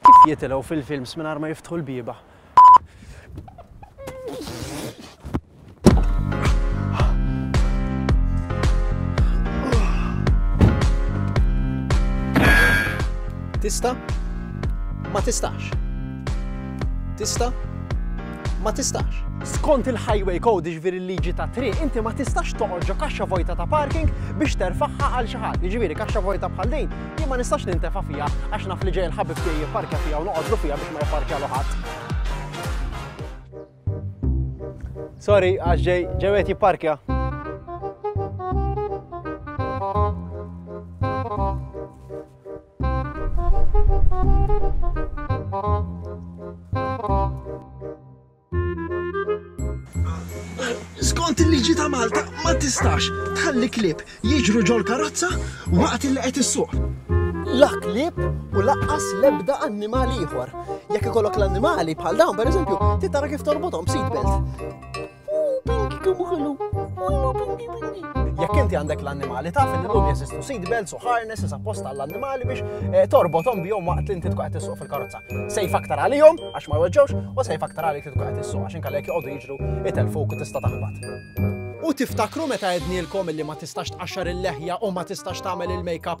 Kif jitilgħu fil-films mingħajr ma jiftħu l-bieba? Tista? Ma tistax. Tista? ma tistax. Skont il-Highway Code, jiġifieri l-liġi tat-triq, inti ma tistax toqgħod ġo kaxxa vojta ta' parking biex terfagħha għal xi ħadd. Jiġifieri kaxxa vojta bħal din jien ma nistax nintefa' fiha għax naf li ġej il-ħabib tiegħi jipparkja fiha u noqgħodlu fiha biex ma jipparkjalu ħadd. Sorry, għax ġej ġej qed jipparkja. Skont il-liġi ta' Malta ma tistax tħalli klieb jiġru ġol-karozza waqt li qed issuq. La klieb u laqqas lebda annimal ieħor. Jekk ikollok l-annimali bħal dawn pereżempju, titara kif torbothom b'seatbelt. Jekk inti għandek l-annimali taf li l-lum jeżistu seat belts u harnesses apposta għall-annimali biex eh, torbothom bihom waqt li inti tkun qed tissuq fil-karozza. Sejf aktar għalihom għax ma jweġġewx u sejf aktar għalik li tkun qed tissuq għax inkallek joqogħdu jiġru itelfuk u tista' taħbat. U tiftakru meta għednielkom li ma tistax tqaxxar il-leħja u ma tistax tagħmel il-makeup.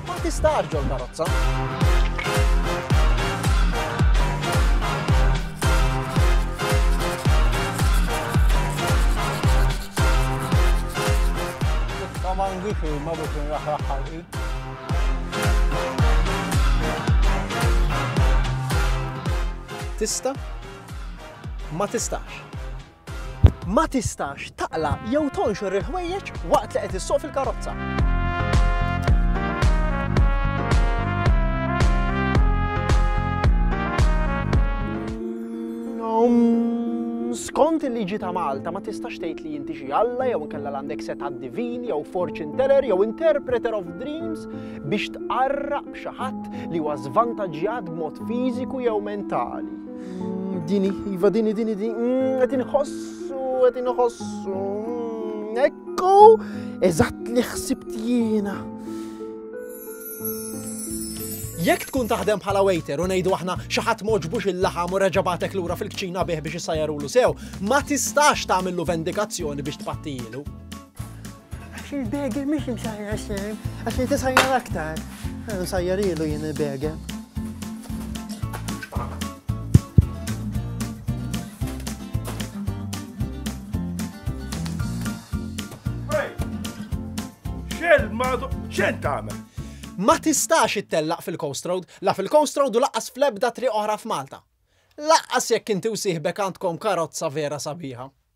Ma tistax ġol karozza. Kamangi fi ma biex nraħraħ ħalqi. Tista? Ma tistax. Ma tistax taqla' jew tonxor il-ħwejjeġ waqt li qed issuq fil-karozza. Skont il-liġi ta' Malta ma tistax tgħid li inti xi Alla jew inkella għandek seta' divin jew fortune teller jew interpreter of dreams biex tqarraq xi ħadd li huwa żvantaġġjat b'mod fiżiku jew mentali. Dini, iva dini, dini, dini, mm, għedin ħossu, għedin ħossu. Mm, ekku, eżatt li ħsibt jiena. Jekk tkun taħdem bħala waiter u ngħidu aħna xi ħadd moġbux il-laħam u reġabatek lura fil-kċina bih biex isajarulu sew, ma tistax tagħmillu vendikazzjoni biex tpattijilu. Għax il-begel mhix imsajra xejn, għax inti sajjar aktar. Sajjar ilu jien il-begel. Xel ma xen tagħmel? Ma tistax ittellaq fil-Coast Road, la fil-Coast Road u laqqas fl-ebda triq oħra f'Malta. Laqqas jekk inti u sieħbek għandkom karozza vera sabiħa.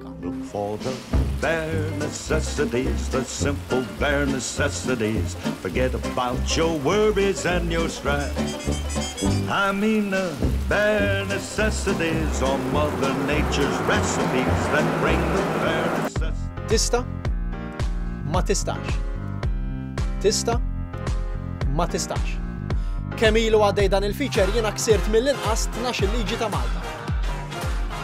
Look for the bare necessities, the simple bare necessities. Forget about your worries and your strife. I mean the bare necessities or Mother Nature's recipes that bring the bare necessities. Tista? Ma tistax. Tista? Ma tistax. Kemm ilu għaddej dan il-feature jiena ksirt mill-inqas 12 liġi ta' Malta.